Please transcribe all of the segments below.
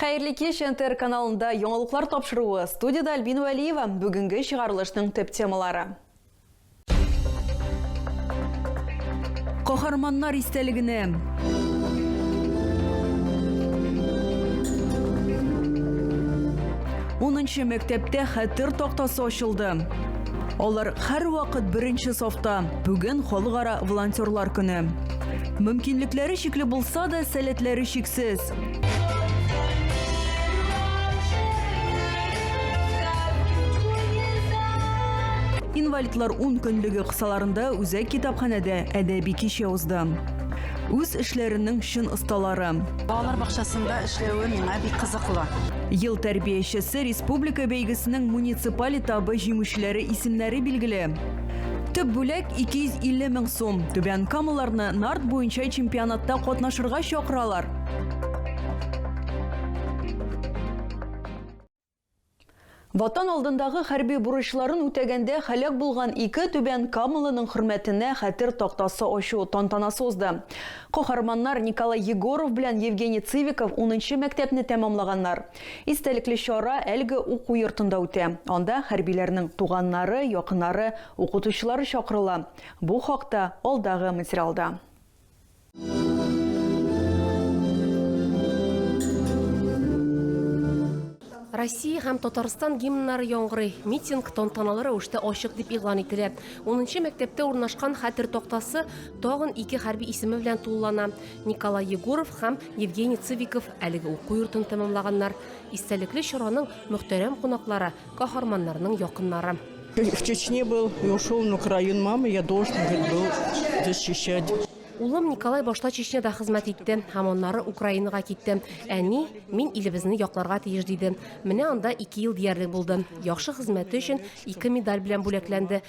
Хәерле кич, НТР каналында яңалыклар тапшыруы. Студияда Альбин Вәлиева. Бүгенге чыгарылышның төп темалары. Каһарманнар истәлегенә Унынчы мәктәптә хәтер тактасы ачылды. Алар һәр вакыт беренче сафта. Бүген халыкара волонтерлар көне. Мөмкинлекләре чикле булса да, сәләтләре чиксез. Инвалидлар ун көнлеге кысаларында үзәк китапханәдә әдәби кичә узды. Үз эшләренең чын осталары. Балалар бакчасында эшләве миңа бик кызыклы. Ел тәрбиячесе республика бәйгесенең муниципаль этабы җиңүчеләре исемнәре билгеле. Төп бүләк 250 мең сум. Түбән Камаларны нарт буенча чемпионатта катнашырга чакыралар. Ватан алдындагы хәрби бурычларын үтәгәндә халәк булган ике түбән Камылының хөрмәтенә хәтер тактасы ачу тантанасы узды. Каһарманнар Николай Егоров белән Евгений Цивиков 10 мәктәпне тәмамлаганнар. Истәлекле чара әлеге уку йортында үтә. Анда хәрбиләрнең туганнары, якыннары, укытучылары чакырыла. Бу хакта алдагы материалда. Россия һәм Татарстан гимннары яңгырый. Митинг тантаналы рәвештә ачык дип игълан ителә. 10 мәктәптә урнашкан хәтер тактасы тагын ике хәрби исеме белән тулылана. Николай Егоров һәм Евгений Цыбиков Әлеге уку йортын тәмамлаганнар, истәлекле чараның мөхтәрәм кунаклары, каһарманнарның якыннары. В Чечне был, и ушел на Украину мамы, я должен был защищать. Улым Николай башта Чечняда хезмәт итте, һәм аннары Украинага китте. Әни, мин илебезне якларга тиеш, диде. Менә анда ике ел диярлек булды. Яхшы хезмәте өчен ике медаль белән бүләкләнде.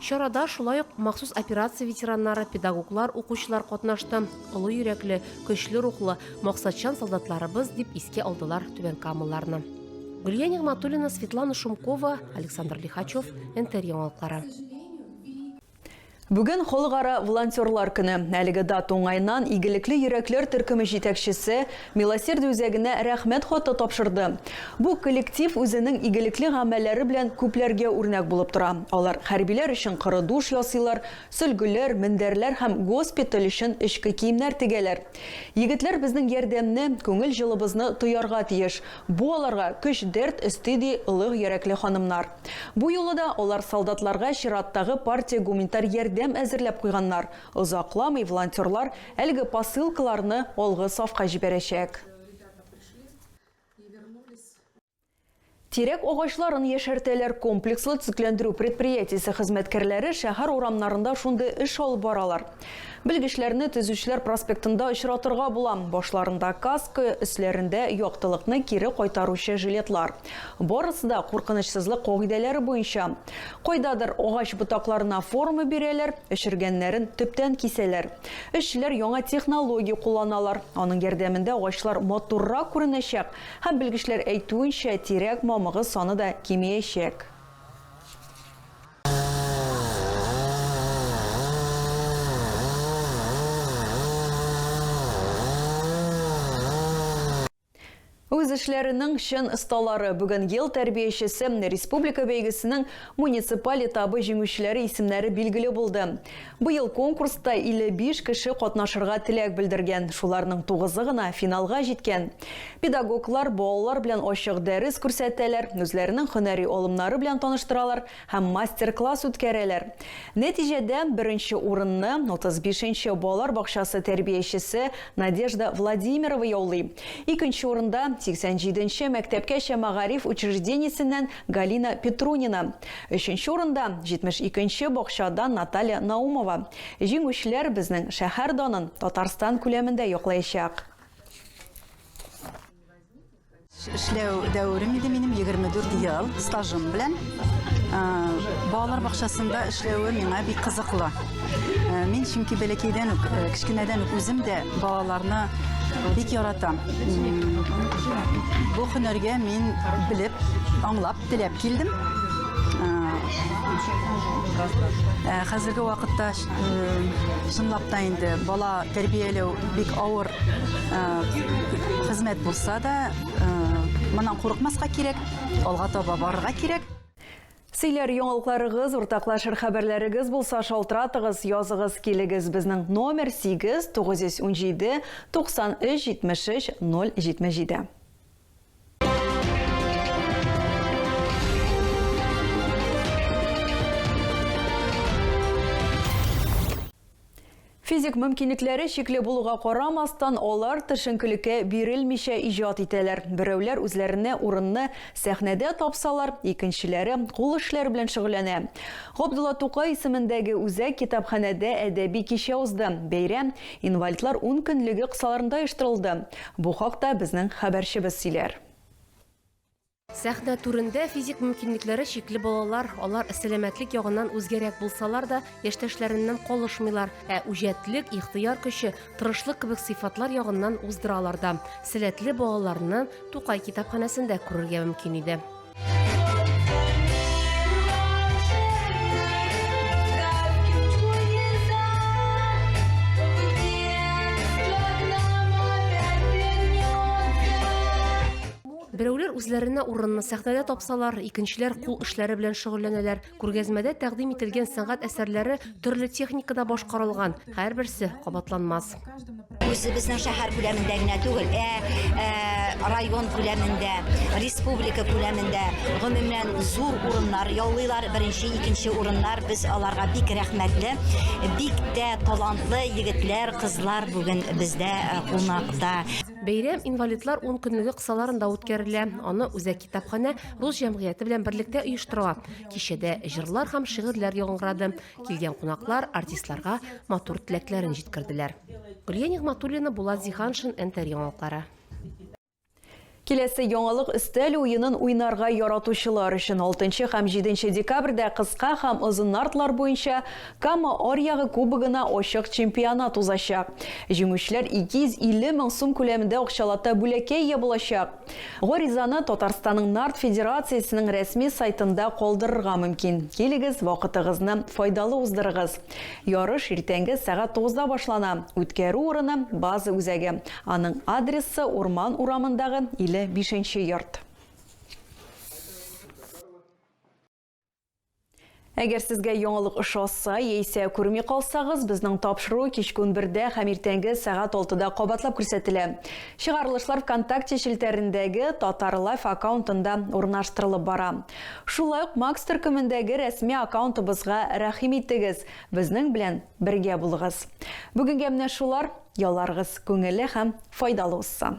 Чарада шулай ук махсус операция ветераннары, педагоглар, укучылар катнашты. Олы йөрәкле, көчле рухлы, максатчан солдатларыбыз, дип искә алдылар түбәнкамалыларны. Гөлия Нигъматуллина, Светлана Шумкова, Александр Лихачев, НТР яңалыклары. Бүген Халыкара волонтерлар көне. Әлеге дата уңаеннан игелекле йөрәкләр төркеме җитәкчесе Милосердие үзәгенә Рәхмәт хаты тапшырды. Бу коллектив үзенең игелекле гамәлләре белән күпләргә үрнәк булып тора. Алар хәрбиләр өчен коры душ ясыйлар, сөлгеләр, мендәрләр һәм госпиталь өчен эчке киемнәр тегәләр. Егетләр безнең ярдәмне, күңел җылыбызны тоярга тиеш. Бу аларга көч дәрт өсти, ди олы йөрәкле ханымнар. Бу юлы да алар солдатларга чираттагы партия гуманитар ярдәм әзерләп куйганнар. Озакламый волонтерлар әлеге посылкаларны алгы сафка җибәрәчәк. Тирәк агачларын яшәртәләр комплекслы төзекләндерү предприятиесе хезмәткәрләре шәһәр урамнарында шундый эш алып баралар. Белгечләрне Төзүчеләр проспектында очратырга була. Башларында каска, өсләрендә яктылыкны кире кайтаручы жилетлар. Барысы да куркынычсызлык кагыйдәләре буенча. Кайдадыр агач ботакларына форма бирәләр, эшергәннәрен төптән кисәләр. Эшчеләр яңа технология кулланалар, аның ярдәмендә агачлар матуррак күренәчәк һәм, белгечләр әйтүенчә, тирәк мамыгы саны да кимеячәк. Үз эшләренең чын осталары, бүген Ел тәрбиячесе республика бәйгесенең муниципаль этабы җиңүчеләре исемнәре билгеле булды. Быел конкурста 55 кеше катнашырга теләк белдергән, шуларның тугызы гына финалга җиткән. Педагоглар балалар белән ачык дәрес күрсәтәләр, үзләренең һөнәри алымнары белән таныштыралар һәм мастер-класс үткәрәләр. Нәтиҗәдә, беренче урынны, 35 нче балалар бакчасы тәрбиячесе Надежда Владимирова яулый. Икенче урында, 87 нче мәктәпкәчә мәгариф учреждениесеннән Галина Петрунина. Өченче урында, 72 нче бакчадан Наталья Наумова. Җиңүчеләр безнең шәһәр данын Татарстан күләмендә яклаячак. Эшләү дәверем иде минем 24 ел стажым белән. Балалар бакчасында эшләве миңа бик кызыклы. Мин чөнки бәләкәйдән үк, кечкенәдән үк үзем дә балаларны бик яратам. Бу һөнәргә мин белеп, аңлап Теләп килдем. Ә, хәзерге вакытта чынлап та инде бала тәрбияләү бик авыр хезмәт булса да, моннан курыкмаска кирәк, алга таба барырга кирәк. Сөйләр яңалыкларыгыз, уртаклашыр хәбәрләрегез булса, шалтыратыгыз, языгыз, килегез. Безнең номер 8 917 93 73 077. Физик мөмкинлекләре чикле булуга карамастан, алар төшенкелеккә бирелмичә иҗат итәләр. Берәүләр үзләренә урынны сәхнәдә тапсалар, икенчеләре кул эшләре белән шөгыльләнә. Габдулла Тукай исемендәге үзәк китапханәдә әдәби кичә узды. Бәйрәм инвалидлар ун көнлеге кысаларында оештырылды. Бу хакта безнең хәбәрчебез сөйләр. Сәхнә түрендә физик мөмкинлекләре чикле балалар, алар сәламәтлек ягыннан үзгәрәк булсалар да, яшьтәшләреннән калышмыйлар, ә үҗәтлек, ихтыяр көче, тырышлык кебек сыйфатлар ягыннан уздыралар да. Сәләтле балаларны Тукай китапханәсендә күрергә мөмкин иде. Берәүләр үзләренә урынны сәхнәдә тапсалар, икенчеләр кул эшләре белән шөгыльләнәләр. Күргәзмәдә тәкъдим ителгән сәнгать әсәрләре төрле техникада башкарылган, һәрберсе кабатланмас. Үзе безнең шәһәр күләмендә генә түгел, ә, ә район күләмендә, республика күләмендә гомумән зур урыннар яулыйлар. Беренче, икенче урыннар без аларга бик рәхмәтле. Бик тә талантлы егетләр, кызлар бүген бездә кунакта. Бәйрәм инвалидлар 10 көнлеге кысаларында үткәрелә. Аны үзәк Китапханә рус җәмгыяте белән берлектә оештырыла. Кичәдә җырлар һәм шигырьләр яңгырады. Килгән кунаклар артистларга матур теләкләрен җиткерделәр. Гөлия Нигъматуллина, Булат Зиһаншин, НТР яңалыклары. Киләсе яңалык өстәл уенын уйнарга яратучылар өчен 6 һәм 7 декабрьдә кыска һәм озын нартлар буенча Кама Аръягы Кубогына ачык чемпионат узачак. Җиңүчеләр 250 мең сум күләмендә акчалата бүләккә ия булачак. Гаризаны Татарстанның нарт федерациясенең рәсми сайтында калдырырга мөмкин. Килегез, вакытыгызны файдалы уздырыгыз! Ярыш иртәнге сәгать тугызда башлана. Үткәрү урыны, база үзәге. Аның адресы, Урман урамындагы 55 нче йорт. Әгәр сезгә яңалык ошаса, яисә күрми калсагыз, безнең тапшыру кичке унбердә һәм иртәнге сәгать алтыда кабатлап күрсәтелә. Чыгарылышлар ВКонтакте челтәрендәге Татар Лайф аккаунтында урнаштырылып бара. Шулай ук Макс төркемендәге рәсми аккаунтыбызга рәхим итегез, безнең белән бергә булыгыз. Бүгенгә менә шулар, ялларыгыз күңелле һәм файдалы узсын!